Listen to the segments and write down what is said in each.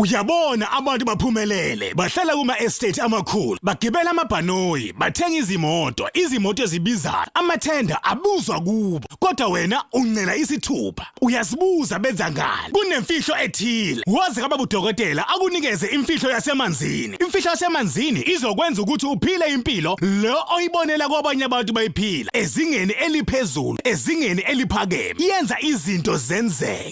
Uyabona abantu baphumelele bahlala kuma estate amakhulu bagibela amabhanoyi bathenga izimoto izimoto ezibizayo amathenda abuzwa kubo kodwa wena uncela isithupha uyazibuza benza ngani kunemfihlo ethile wazi kaba budokotela akunikeze imfihlo yasemanzini imfihlo yasemanzini izokwenza ukuthi uphile impilo lo oyibonela kwabanye abantu bayiphila ezingeni eliphezulu ezingeni eliphakeme yenza izinto zenzeke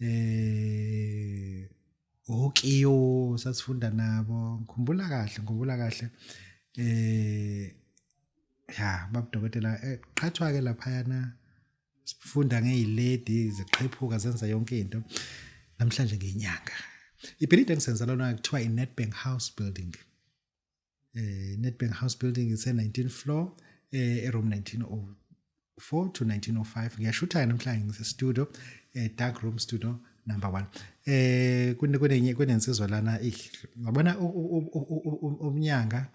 eh okiyo sasifunda nabo ngikhumbula kahle ngikhumbula kahle eh ya babudokotela eh, qhathwa ke laphayana sifunda ngeyilady ziqhephuka zenza yonke into namhlanje ngenyanga ibhilidi engisenzela lona kuthiwa i-Nedbank House Building eh Nedbank House building ise 19 floor eh e room 1904 to 1905 ngiyashutha namhlanje ngise studio eh dark room studio number 1 eh kunenye kunensizwa lana ngabona umnyanga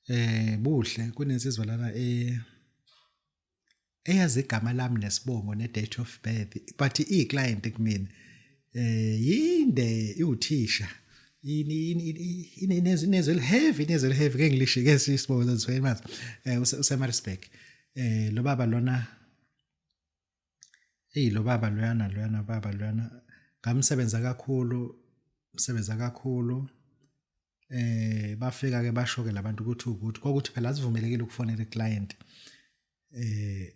eh buhle kunensizwa lana eh eyazi igama lami nesibongo ne-date of birth but iyi-client kumina eh yinde iwuthisha inezwi eliheavy inezwi eliheavy ke ngilisho ke sisibongo sezwe mazi eh useMaritzburg eh lo baba lona eyi lo baba loyana loyana baba loyana ngamsebenza kakhulu msebenza kakhulu eh bafika ke basho ke labantu ukuthi ukuthi kokuthi phela sivumelekile ukufonela iclient eh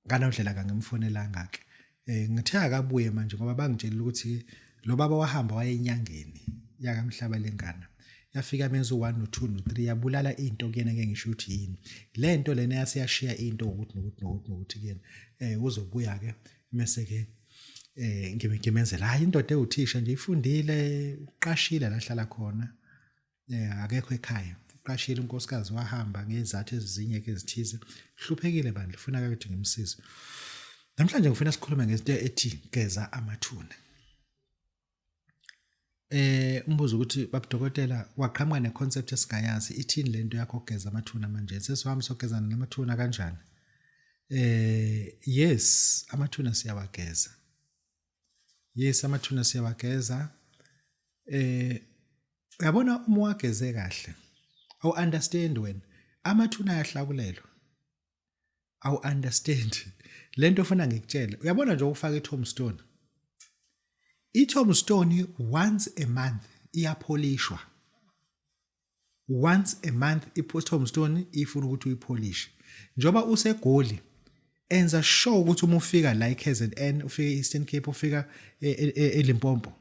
nganodlela kangimfonelanga ke eh ngithe akabuye manje ngoba bangitshela ukuthi lo baba wahamba wayenyangeni yakamhlaba lengana yafika menza u1 no2 no3 yabulala into kuyena ke ngisho ukuthi yini lento lena yasiyashiya into ukuthi nokuthi nokuthi nokuthi kuyena eh uzobuya ke mese ke eh ngimenzela hayi indoda ewuthisha nje ifundile uqashile lahlala khona eh akekho ekhaya uqashile unkosikazi wahamba ngezathu ezinye ke ezithize hluphekile bandla ufuna ukuthi ngimsize namhlanje ngifuna sikhulume ngezinto ethi geza amathuna Eh umbuzo ukuthi babudokotela waqhamuka ne concept esingayazi ithini lento yakho ogeza amathuna manje sesihambi sogezana namathuna kanjani eh yes amathuna siyawageza yes amathuna siyawageza eh uyabona uma wageze kahle awu understand wena amathuna ayahlakulelwa awu understand lento ofuna ngikutshele uyabona nje ukufaka itombstone itombstone once a month iyapholishwa once a month itombstone ifuna ukuthi uyipholishe njoba usegoli enza sure ukuthi uma ufika la eKZN ufike eEastern Cape ufika eLimpopo e, e,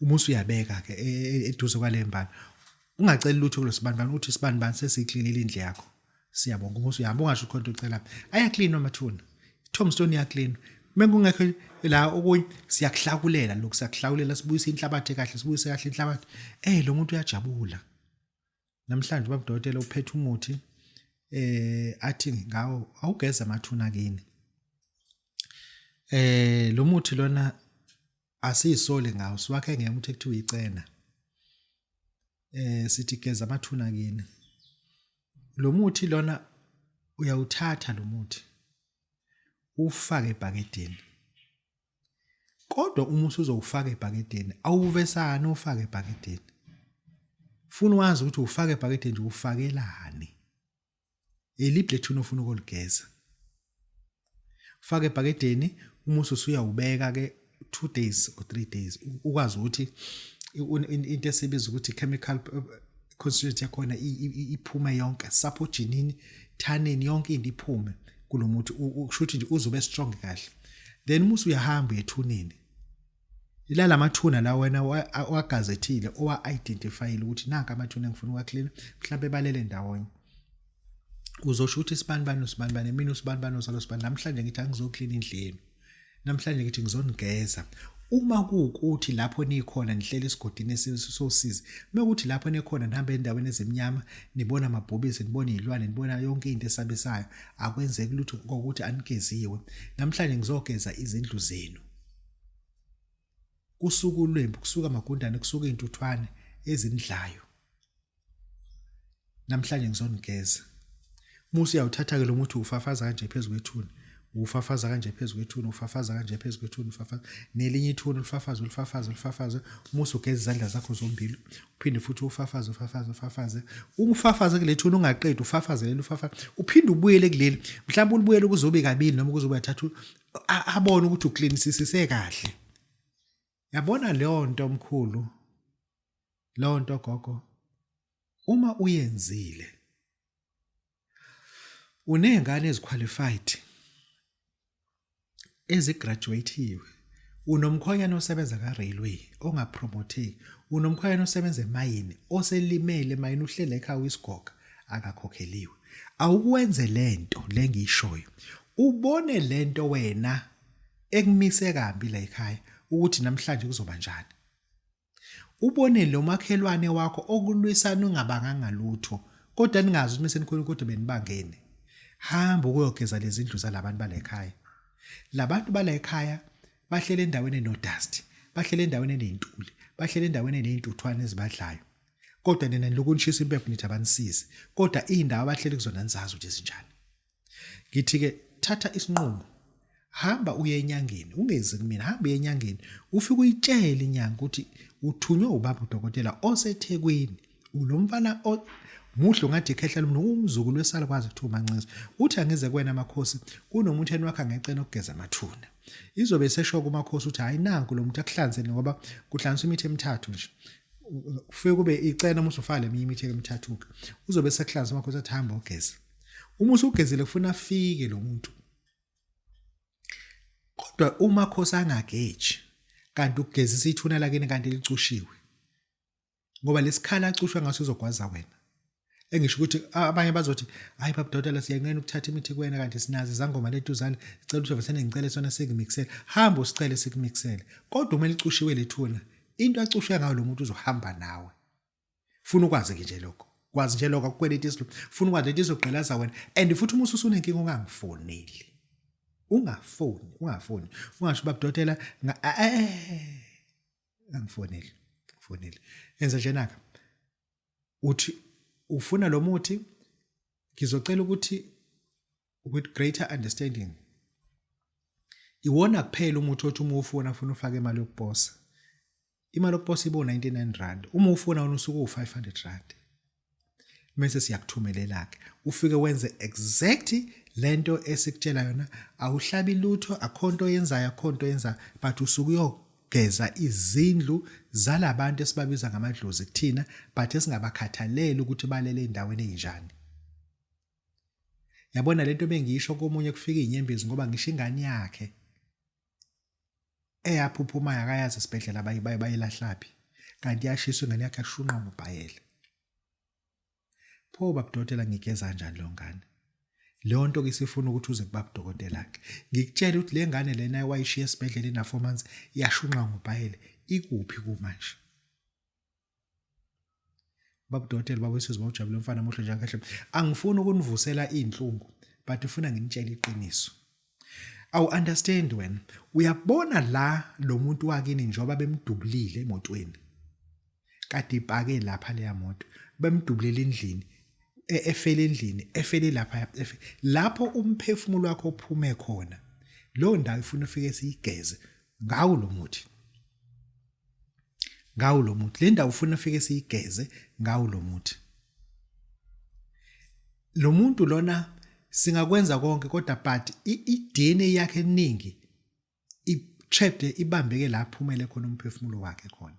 uma usuyabeka ke e, e, eduze kwale mbali ungaceli lutho kulo sibanibani uthi sibanibani sesiklinile indle yakho siyabonga uma usuyahamba ungasho khona ucela ayaklinwa amathuna tombstone yaklinwa mekungekho la okunye siyakuhlakulela lokhu siyakuhlakulela sibuyisa inhlabathi kahle sibuyise kahle inhlabathi eh lo muntu uyajabula namhlanje babudokotela uphethe umuthi eh athi ngawo awugeza amathuna kini eh lo muthi lona asiyisoli ngawo siwakhe ngemuthi ekuthiwa icena eh sithi geza amathuna kini lo muthi lona uyawuthatha lo muthi ufake ebhakedeni kodwa uma usuzowufaka ebhakedeni awuvesani ufake ebhakedeni funa wazi ukuthi ufake ebhakedeni nje ufakelani Elibhle thuna ufuna ukuligeza. Faka ebhakedeni uma usuyawubeka ke 2 days or 3 days ukwazi ukuthi into esibiza ukuthi chemical constituent yakhona iphuma yonke saphoginini thaneni yonke into iphume kulomuthi ukushuthi nje uzobe strong kahle then musu uyahamba ethuneni ila lamathuna la wena wagazethile owa-identifyile ukuthi nanka amathuna engifuna uwaklina mhlawumbe balele ndawonye uzosho ukuthi isibanibani usibanibani mina usibanibani osalo sibani namhlanje ngithi angizoklina indlu yenu namhlanje ngithi ngizonigeza uma kuwukuthi lapho nikhona nihlele esigodini esisosizi mekuthi lapho nekhona nihambe endaweni ezimnyama nibona amabhubesi nibona izilwane nibona yonke into esabisayo akwenzeki lutho kokuthi anigeziwe namhlanje ngizogeza izindlu zenu kusuka ulwembu kusuka amagundane kusuka izintuthwane ezinidlayo namhlanje ngizonigeza musa uyawuthatha ke lo muthi ufafaza kanje phezulu kwethuna ufafaza kanje phezulu kwethuna ufafaza kanje phezulu kwethuna ufafaza nelinye ithuna ulifafaza ulifafaza ulifafaza musa ugeza izandla zakho zombili uphinde futhi ufafaze ufafaze ufafaze ungifafaze kule thuna ungaqedi ufafaze leli ufafaze uphinde ubuyele kuleli mhlawumbe ulibuyele kuzobe kabili noma kuzobe athathu abone ukuthi uklinisisise kahle yabona leyo nto omkhulu leyo nto gogo uma uyenzile unezingane eziqualified ezigraduatiwe unomkhonyana osebenza ka-railway ongapromotheki unomkhonyana osebenza emayini oselimele emayini uhlele ekhaya uyisigoga akakhokheliwe awukwenze lento lengiyishoyo ubone lento wena ekumise kambi la ekhaya ukuthi namhlanje kuzoba njani ubone lo makhelwane wakho okulwisana ungabanganga lutho kodwa ningazi ukuthi mesenikhona kodwa benibangene hamba ukuyogeza lezindlu zalabantu bala ekhaya labantu bala ekhaya bahlele endaweni enodust bahlele endaweni enentuli bahlele endaweni eneintuthwane ezibadlayo kodwa nina nilokhu nishisa impepho nithi abanisizi kodwa iy'ndawo abahleli kuzona nizazi ukuthi zinjani ngithi-ke thatha isinqumo hamba uye enyangeni ungezi kumina hamba uye enyangeni ufike uyitshele inyanga ukuthi uthunywe ubaba udokotela osethekwini ulo mfana muhle ungathi ikhehla lomntu umzukulu wesalukwazi kuthiwa umancinza uthi angize kuwena amakhosi kunomuntu eni wakhe angecela ukugeza amathuna izobe isesho kumakhosi ukuthi hhayi nanku lo muntu akuhlanzeni ngoba kuhlanziswa imithi emithathu nje ufike kube icela noma usufaka leminye imithi emithathuka uzobe sekuhlanza wakho usathi hamba ugeze uma usugezile kufuna afike lo muntu kodwa uma khosi angageji kanti ukugezisa ithuna lakini kanti licushiwe ngoba lesikhala acushwe ngaso uzogwaza wena engisho ukuthi abanye bazothi hayi baba dotela siyanqena ukuthatha imithi kuwena kanti sinazi izangoma letuzane sicela ukuthi avesane ngicele sona sikumixele hamba usicele sikumixele kodwa uma licushiwe lethuna into acushwe ngayo lo muntu uzohamba nawe funa ukwazi ke nje lokho kwazi nje lokho akukweleta isilo funa ukwazi lento izogqilaza wena and futhi uma ususunenkinga ungangifoneli ungafoni ungafoni ungasho baba dotela eh, angifoneli ngifoneli enza njenaka uthi ufuna lo muthi ngizocela ukuthi with greater understanding iwona kuphela umuthi othi uma ufuna ufuna ufake imali yokuposa imali yokuposa ibo 99 rand uma ufuna wona usuku 500 rand mase siyakuthumelela ke ufike wenze exact lento esikutshela yona awuhlabi lutho akhonto yenzayo akhonto yenza but usuku yo geza izindlu zalabantu esibabiza ngamadlozi kuthina but esingabakhathaleli ukuthi balele endaweni enjani yabona lento bengisho komunye kufika inyembezi ngoba ngisho ingane yakhe eyaphuphumayo akayazi isibhedlela bayilahlaphi kanti yashiswa ingane yakhe ashunqa ngobhayela pho babudokotela ngigeza kanjani lo ngane leyo nto ke sifuna ukuthi uze kuba budokotela ke ngikutshela ukuthi le ngane lena wayishiya esibhedlela ina 4 months yashunqa ngobhayele ikuphi kumanje babudokotela babuyisizwe bawujabule mfana muhle njalo kahle angifuni ukunivusela izinhlungu but ufuna nginitshele iqiniso awu understand wena uyabona la lo muntu wakini njengoba bemdubulile emotweni kade ipake lapha leya moto bemdubulele endlini e, efele endlini efele lapha lapho umphefumulo wakho ophume khona lo ndawo ifuna ufike siyigeze ngawo lo muthi ngawo lo muthi le ndawo ufuna ufike siyigeze ngawo lo muthi lo muntu lona singakwenza konke kodwa but i-DNA yakhe eningi i-trapped ibambeke la phumele khona umphefumulo wakhe khona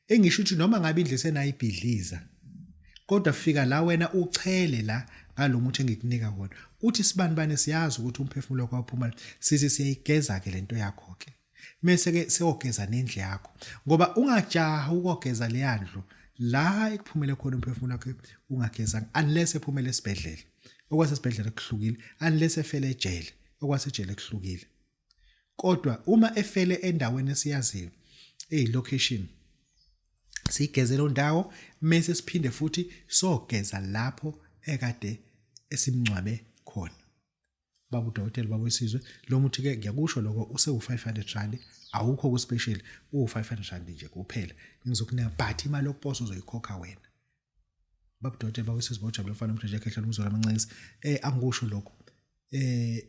engisho ukuthi noma ngabe indle senayibhidliza kodwa fika la wena uchele la ngalomuthi engikunika wona uthi sibani bani siyazi ukuthi umphefumulo wakho uphuma sithi siyayigeza ke lento yakho ke Mese ke seyogeza nendlu yakho ngoba ungajaha ukogeza leya ndlu la ekuphumele khona umphefumulo wakhe ungagezanga unless ephumele esibhedlela okwasesibhedlela kuhlukile unless efele ejele okwasejele kuhlukile kodwa uma efele endaweni esiyaziyo eyi location sigeze lo ndawo mese siphinde futhi sogeza lapho ekade esimncwabe khona baba udokotela baba wesizwe lo muthi ke ngiyakusho lokho usewu-500 rand awukho ku-special uwu-500 rand nje kuphela ngizokunika but imali yokuposa uzoyikhokha wena baba udokotela baba wesizwe bawujabule umfana omsheshe ekhehla lomzolo amancinisi um angikusho lokho um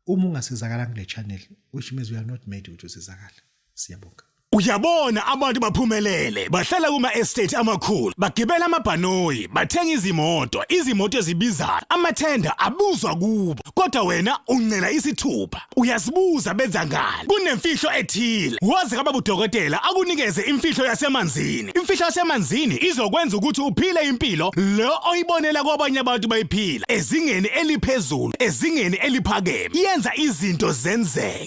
uma ungasizakala kule channel which means we are not made ukuthi usizakale siyabonga Uyabona abantu baphumelele bahlala kuma estate amakhulu bagibela amabhanoyi bathenga izimoto izimoto ezibizayo amathenda abuzwa kubo kodwa wena uncela isithupha uyazibuza benza ngani kunemfihlo ethile wazi kaba budokotela akunikeze imfihlo yasemanzini imfihlo yasemanzini izokwenza ukuthi uphile impilo lo oyibonela kwabanye abantu bayiphila ezingeni eliphezulu ezingeni eliphakeme yenza izinto zenzeke